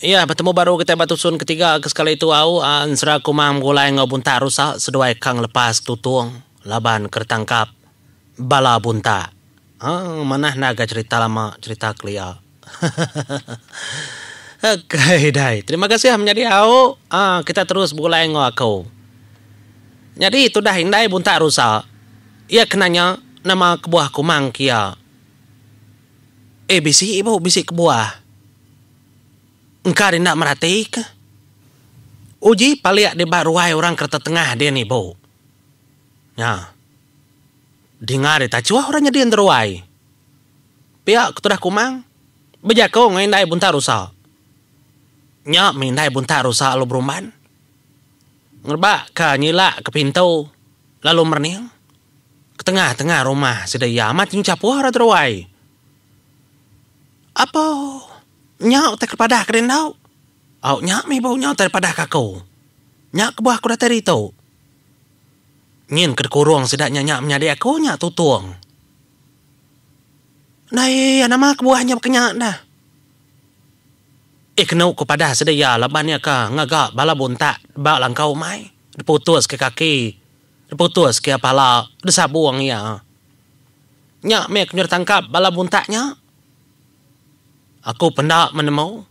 Iya, betemu baru kitai ba tusun ketiga ke sekali tu au ensera Kumang begulai enggau Bunta Rusa seduai ka ngelepas Tutong laban ke ditangkap bala Bunta. Haa, manah enda ga cherita lama, cherita kelia. ok dai, terima kasih menyadi au. Haa, kitai terus begulai enggau aku. Nyadi tudah indai Bunta Rusa, iya kena nya nama kebuah Kumang ke iya. Eh, bisi ibu, bisi kebuah. Engka dina merati ke? Uji palik di ba ruai orang kereta tengah din ibu. Nya. Dinga di tachuh orang nyadi enda ruai. Pia ke tudah kumang, bejaku enggau indai buntak rusa. Nya mih indai buntak rusa lalu berumban. Ngerebakka nyilakka pintu lalu merening. Ketengah-tengah rumah sida iya amat nyuchapuh orang ti ruai. Apo nya utai ke padah ke deh enda? Au nya meh ibu nya utai padah ke aku. Nya kebuah aku datai ditu. Nyin ke dikurung sida nya nya menyadi aku nya tutung. Enda iya nama kebuah nya baka nya dah. Eh kenu ku padah sida iya laban iya ka ngaga bala buntak ba langkau umai diputuska kaki diputuska pala disabung iya. Nya meh aku nyudah tangkap bala buntak nya. Aku penda menemu.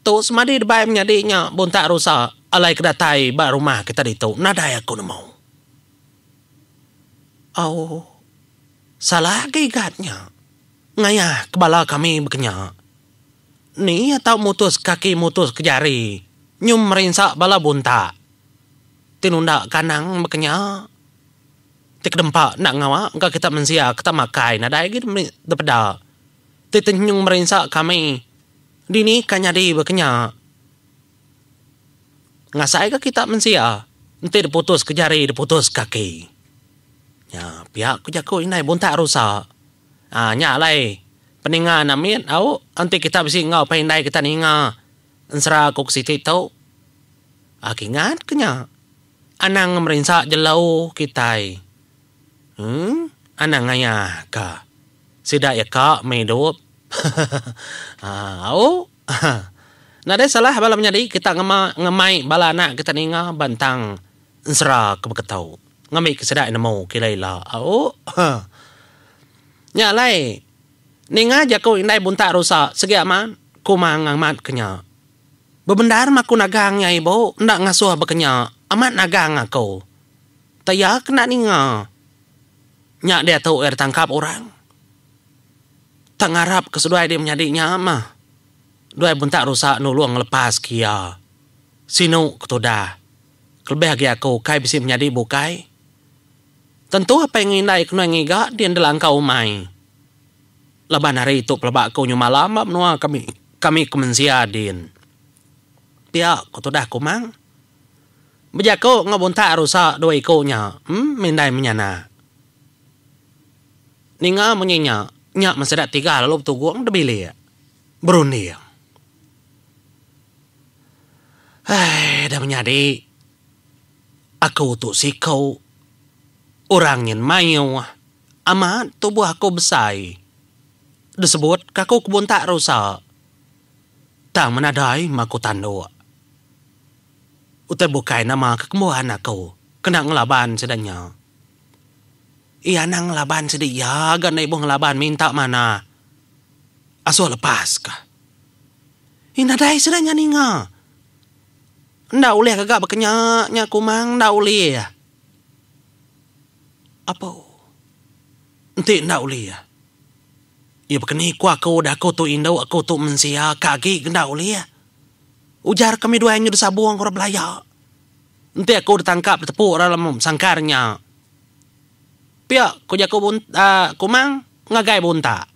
Tu semadi debai menyadi nya buntak rusa alai ke datai ba rumah kita ditu nadai aku nemu. Au. Salah agi gat nya. Ngayahka bala kami bekenya. Ni iya tau mutuska kaki mutuska jari nyum merinsa bala buntak. Tinunda kandang bekenya. Ti kedempa enda ngawa engka kita mensia ke tak makai nadai agi dipeda ti tenyung merinsa kami dini ka nyadi ba kenya ngasai ka kita mensia enti diputus ka jari diputus ka kaki nya pia ku jaku indai buntak rusa um nya alai peninga enda mit au enti kita bisi enggau pai indai kita ninga ensera ku siti tu um kingat ke nya. Anang merinsa jelu kitai. Emm anang ngaya ka. Sida iya ka meh idup. Haa au. Haa. Nadai salah bala menyadi kita ngema ngemai bala anak kita ninga ba entang ensera ke beketu. Ngambika sida iya nemu ke ila ila. Au. Haa. Nya alai ninga jaku indai buntak rusa segi amat kuma ngambat ke nya. Bebendar ma aku nagang nya ibu enda ngasuh bekenya amat nagang aku. Tah iya ke enda ninga. Nya diatu iya ditangkap orang. Tang ngarap ke seduai dia menyadi nya mah duai buntak rusa nulung ngelepas ke iya. Sinu ke tudah. Kelebih agi aku kai bisi menyadi bukai. Tentu apai ngeindai ke nuai ngiga din delangka umai. Laban hari tu pelaba aku nyu malam ba menua kami kami ke mensia din. Pia ko tudah Kumang. Bejako enggau buntak rusa dua iko nya em mindai menyana. Ninga munyi nya, nya meh sida tiga lalu betugong da bilik berunding. Hai da menyadi aku tu siko orang nyin mayuh. Amat, tubuh aku besai. Disebut ka aku kebuntak rusa. Tang menadai ma aku tanduk. Utai bukai nama kekembuan aku kena ngelaban sida nya. Iya anang ngelaban sida iya ga enda ibuh ngelaban minta manah. Asuh lepas ka. Ih nadai sida nya ninga. Enda ulih ka ga baka nya nya kumang enda ulih. Apu. Enti enda uli iya. Iya baka ni ku aku udah aku tu indu aku tu mensia ka agi ke enda uli iya. Ujar kami dua nyudah sabung orang belaya. Enti aku ditangkap ditepu orang lemu besangkar nya. Pia ku jaku uhh Kumang ngagai Buntak.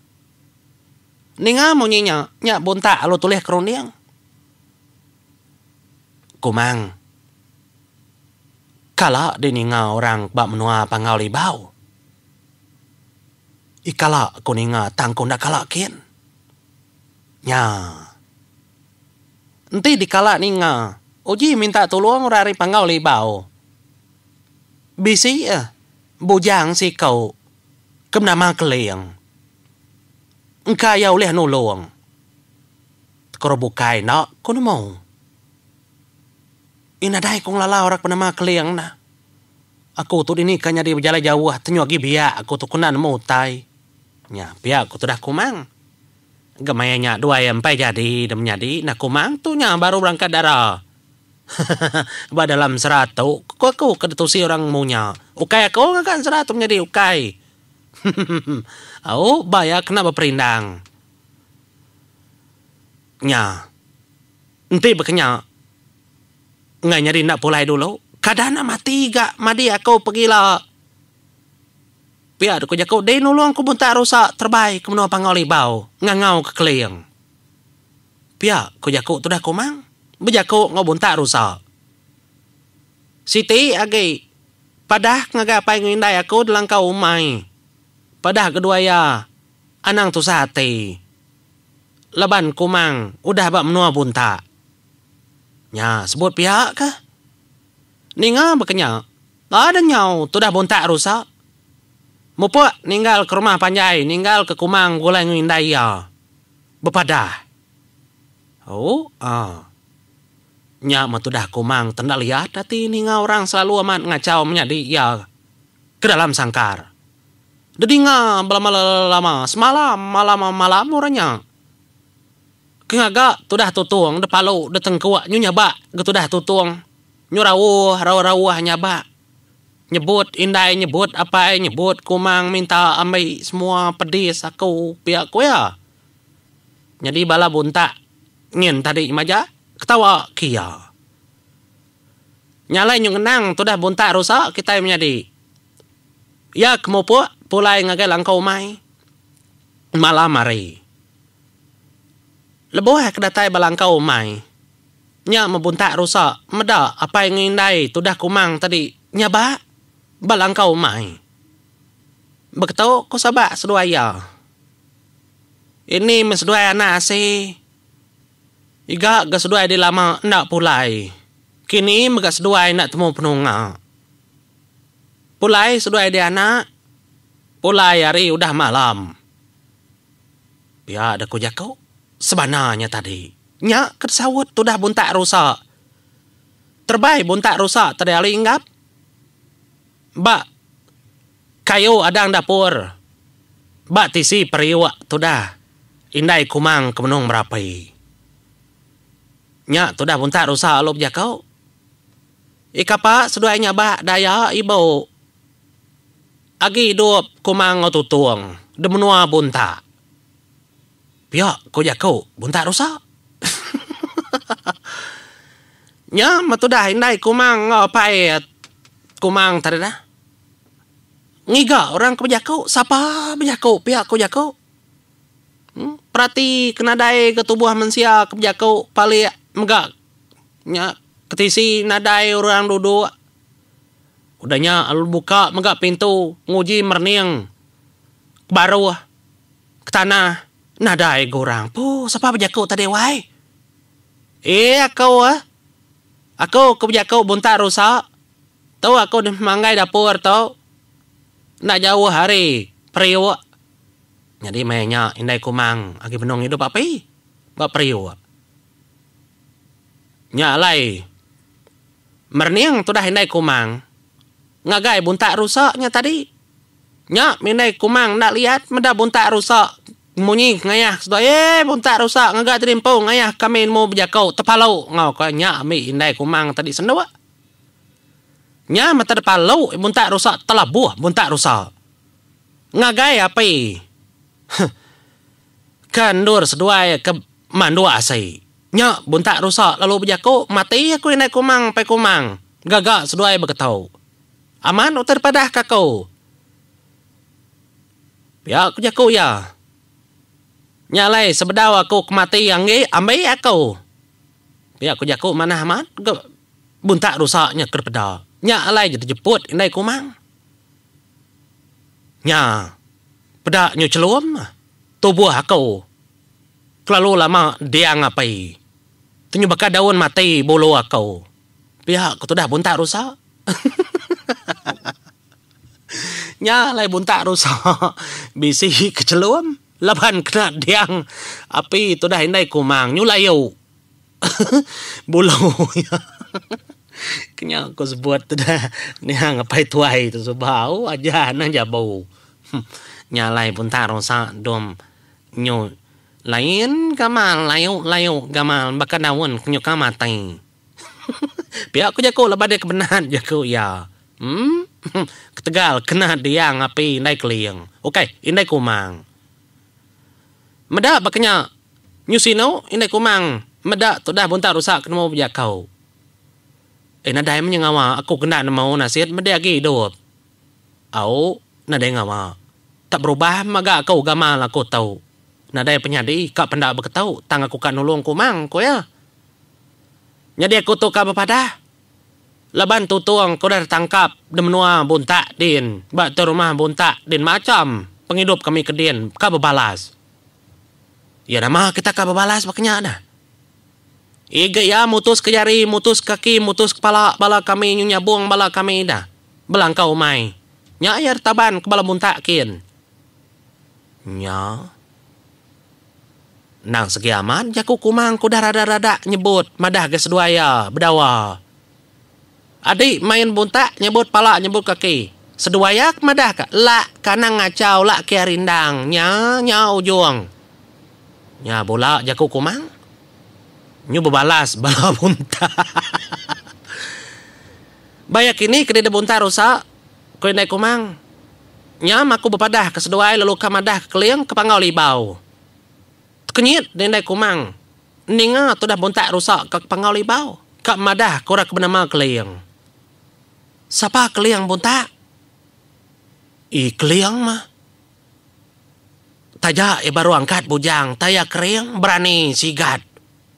Ninga munyi nya, nya Buntak lalu tulih ke runding. Kumang. Kala deh ninga orang ba menua Panggau Libau. Ih kala ku ninga tang ku enda kala kin. Nya. Enti dikala ninga uji minta tulung orang ari Panggau Libau. Bisi eh bujang siko ke benama Keling. Engka iya ulih nulung. Koro bukai enda ku nemu. Ih nadai ku ngelala orang ke benama Keling nah. Aku tu dini ka nyadi bejalai jauh tenyu agi biak aku tu kena nemu utai. Nya pia aku tudah kumang. Gemai nya dua iya empai jadi da menyadi nah kumang tu nya baru berangkat dara. Hehehe ba dalam sera tu ku aku ke ditusi orang nemu nya ukai aku ngaga sera tu menyadi ukai. Hehehe au ba iya kena beperindang nya. Enti bekenya enggai nyadi enda pulai dulu, kada enda mati ga madi aku pegila. Pia deka jaku deh nulung ku buntak rusa terebai ke menua Pangau Libau ngangau ke Keling. Pia ku jaku tudah Kumang bejaku enggau buntak rusa. Siti agi padah ngagai apai enggau indai aku delangkau umai. Padah kedua iya anang tusah ati. laban Kumang udah ba menua buntak. Nya sebut pia kah? Ninga baka nya, tada nyau tudah buntak rusa. Mupuk ninggal ke rumah panjai ninggal ke Kumang begulai enggau indai iya. Bepadah. Ooh. Nya meh tudah Kumang tendal liat ati ninga orang selalu amat ngachau menyadi iya. kedalam sangkar. Dedinga belama-lama semalam malam malam orang nya ke ngaga tudah tutung depalu detengkuk nyu nyabak ga tudah tutung nyu rauh rauh-rauh nyabak nyebut indai nyebut apai nyebut kumang minta ambi semua pedis aku pia ku iya. Nyadi bala buntak nyin tadi maja ketawa ke iya. Nya alai nyu ngenang tudah buntak rusa kitai menyadi. Iya ke mupuk pulai ngagai langkau umai malam hari. Lebuh ke datai ba langkau umai nya meh buntak rusa meda apai enggau indai tudah kumang tadi nyaba ba langkau umai. Beketu ku Sabak seduai iya. Ini meh seduai anak asi. Iga ga seduai di lama enda pulai. Kini mega seduai enda temu penunga. Pulai seduai dianak, pulai ari udah malam. Pia deh ku jaku sebana nya tadi. Nya ke disaut tudah buntak rusa. Terebai buntak rusa tadi ari Enggap ba. Kayu adang dapur ba tisi periuk tudah indai kumang ke menung merapi. Nya tudah buntak rusa alu bejaku. Ikapa seduai nyabak daya ibu agi idup kumang enggau tutung di menua buntak. Pia ku jaku buntak rusa. Nya meh tudah indai kumang enggau apai kumang tadi dah. Ngiga orang ke bejaku, sapa bejaku pia ko jaku. Perati ke nadai ga tubuh mensia ke bejaku palik mega nya ke tisi nadai orang duduk. Udah nya lalu buka mega pintu nguji merening ke baruh ke tanah nadai ga orang. Puh sapa bejaku tadi wai. Ee aku eh. Aku ke bejaku buntak rusa. Tu aku deh manggai dapur tu enda jauh ari periuk. Nyadi meh nya indai kumang agi benung idup api ba periuk. Nya alai merening tudah indai kumang ngagai buntak rusa nya tadi. Nya meh indai kumang enda liat meda buntak rusa munyi ngayah seduai eeh buntak rusa ngagai tadi empu ngayah kami nemu bejaku tepalu enggau ko nya meh indai kumang tadi senduk. Nya mata depa lu muntak rusa telabuh muntak rusa. Ngagai api huh ke endur seduai ke manduk asi. Nya muntak rusa lalu bejaku mati aku indai kumang pai kumang gaga seduai begetu. Amat utai dipadah ke aku. Pia ku jaku iya. Nya alai sebedau aku ke mati anggi ambi aku. Pia ku jaku manah amat ga buntak rusa nya ke dipeda. Nya alai je dijeput indai kumang. Nya peda nyu chelum tubuh aku kelalu lama diang api tenyu baka daun mati bulu aku. Pia ku tudah buntak rusa. Nya alai buntak rusa bisi kechelum laban kena diang api tudah indai kumang nyulai ayu bulu iya. Ke nya ku sebut tudah niang apai tuai tu suba oh aja neh jabu. Nya alai buntak rusa dom nyu lain gamal ayu-ayu gamal baka daun ke nyuka matai. Pia ku jaku laban iya kemenat jaku iya. Em. Ketegal kena diang api indai keling. Ukai indai kumang. Meda baka nya nyusi anu indai kumang meda tudah buntak rusak ke nemu bejakau. Eh nadai meh nya ngawa aku ke enda nemu nasit meda agi idup. Au nadai ngawa. Tak berubah mega aku gamal aku tu. Nadai penyadi ka penda beketu tang aku ka nulung kumang ku iya. Nyadi aku tu ka bepadah. Laban tutung ku udah ditangkap di menua Buntak din ba tu rumah Buntak din macham pengidup kami ke din ka bebalas. Ya nama kita ka bebalas ba kenya dah. Ig iya mutuska jari, mutus kaki, mutus kepala bala kami nyu nyabung bala kami ida belangkau umai. Nya iya ditaban ke bala Buntak kin. Nya. Endang segi amat jaku Kumang ke udah rada-rada nyebut madah ga seduai iya bedawa. Adi main buntak nyebut pala nyebut kaki. Seduai iya ke madah ka lak ke anang ngachau lak ke ari endang nya nya ujung. Nya bula jaku Kumang nyu bebalas bala buntak. Ba iya kini ke deda buntak rusak Ku Indai Kumang, nyam aku bepadah ke seduai lalu ka madah ke Keling ke Panggau Libau. Tekenyit di Indai Kumang ninga tudah muntak rusa ka ke Panggau Libau ka madah ke orang ke benama Keling. Sapa Keling muntak? Ii Keling mah taja iya baru angkat bujang taya kering berani sigat